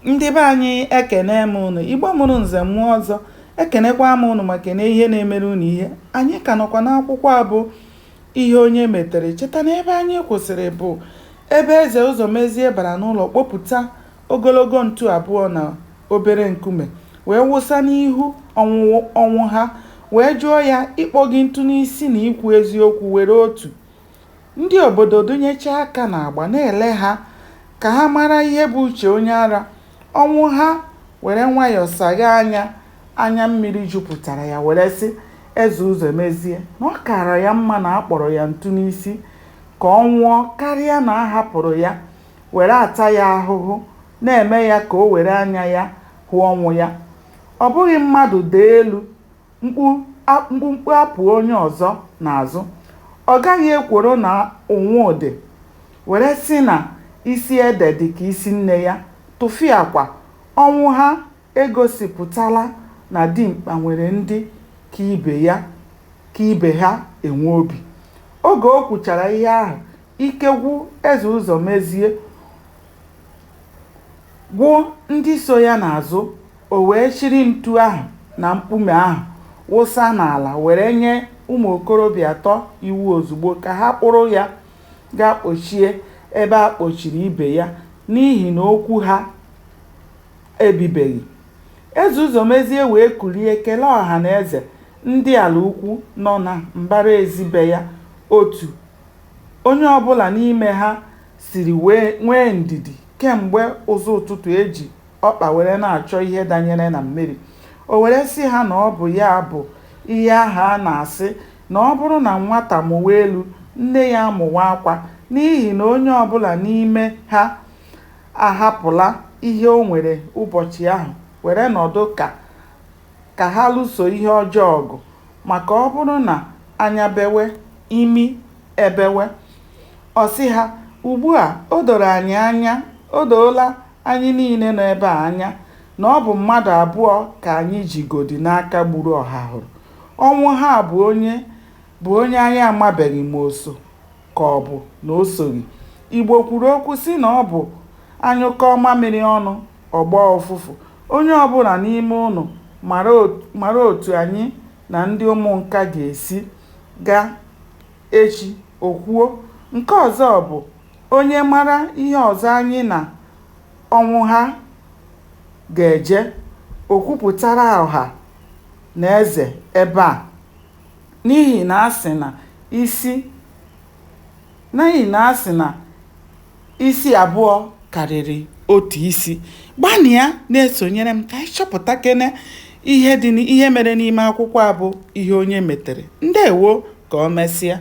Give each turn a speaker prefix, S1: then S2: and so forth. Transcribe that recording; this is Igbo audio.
S1: ndị be anyị ekene m ụnụ igbo mụrụ nze mụọ ọzọ ekenekwa m ụnụ ma kene ihe na-emere ụnụ ihe anyị ka nọkwa n'akwụkwọ a bụ ihe onye metere cheta na ebe anyị kwụsịrị bụ ebe eze ụzọmezie bara n'ụlọ kpopụta ogologo ntu abụọ na obere nkume wee wụsa n'ihu ọnwụha wee jụọ ya ịkpọ gị ntu n'isi na ikwu eziokwu were otu Ndị obodo dụnyechaa aka n'agba na-ele ha ka ha mara ihe bụ uche onye ara, Ọnwụha were nwayọ saghe anya, anya mmiri jupụtara ya were sị Eze Ụzọmezie na ọ kaara ya mma na a kpọrọ ya ntu n'isi ka ọ nwụọ karịa na a hapụrụ ya were ata ya ahụhụ na-eme ya ka o were anya ya hụ ọnwụ ya. Ọ bụghị mmadụ daa elu, mkpumkpu apụọ onye ọzọ n'azụ. Ọ gaghị ekworo na ụnwụ dị, were sị na isi ede dị ka isi nne ya, tụfịakwa. Ọnwụha egosipụtala na dimkpa nwere ndị ka ibe ya ka ibe ha enwe obi. Oge o kwuchara ihe ahụ, ike gwụ Eze Ụzọmezie, gwụ ndị so ya n'azụ, o wee chịrị ntu ahụ na mkpume ahụ wụsa n'ala were nye ụmụ okorobịa atọ iwu ozugbo ka ha kpụrụ ya gaa kpochie ebe a kpochiri ibe ya n'ihi na okwu ha ebibeghị. Eze Ụzọmezie wee kulie kelee ọha na eze, ndị Alaukwu nọ na mbara ezi be ya, otu onye ọ bụla n'ime ha siri wee nwee ndidi kemgbe ụzọ ụtụtụ e ji ọkpa were na-achọ ihe danyere na mmiri. O were sị ha na ọ bụ ya bụ ihe ahụ a na-asị na ọ bụrụ na nwata mụwa elu, nne ya amụwa akwa n'ihi na onye ọ bụla n'ime ha ahapụla ihe o nwere ụbọchị ahụ were nọdụ ka ka ha lụso ihe ọjọọ ọgụ, maka ọ bụrụ na anya bewe, imi ebewe. Ọ sị ha, Ugbu a, o doro anyị anya, o doola anyị niile nọ ebe a anya na ọ bụ mmadụ abụọ ka anyị jigodị n'aka gburu Ọhahụrụ. Ọnwụha bụ onye bụ onye anyị amabeghị ma o so ka ọ bụ na o soghị. Igbo kwuru okwu sị na ọ bụ a nyụkọọ mamịrị ọnụ, ọ gbọọ ụfụfụ. Onye ọ bụla n'ime ụnụ mara otu anyị na ndị Ụmụnka ga-esi gaa echi, o kwuo. Nke ọzọ bụ, onye mara ihe ọzọ anyị na Ọnwụha ga-eje, o kwupụtara ọha na eze ebe a. N'ihi na a sị na isi Isi abụọ karịrị otu isi. Gbanịa na-esonyere m ka anyị chọpụtakene ihe dị n'i ihe mere n'ime akwụkwọ a bụ Ihe Onye Metere. Ndewo! Ka o mesịa.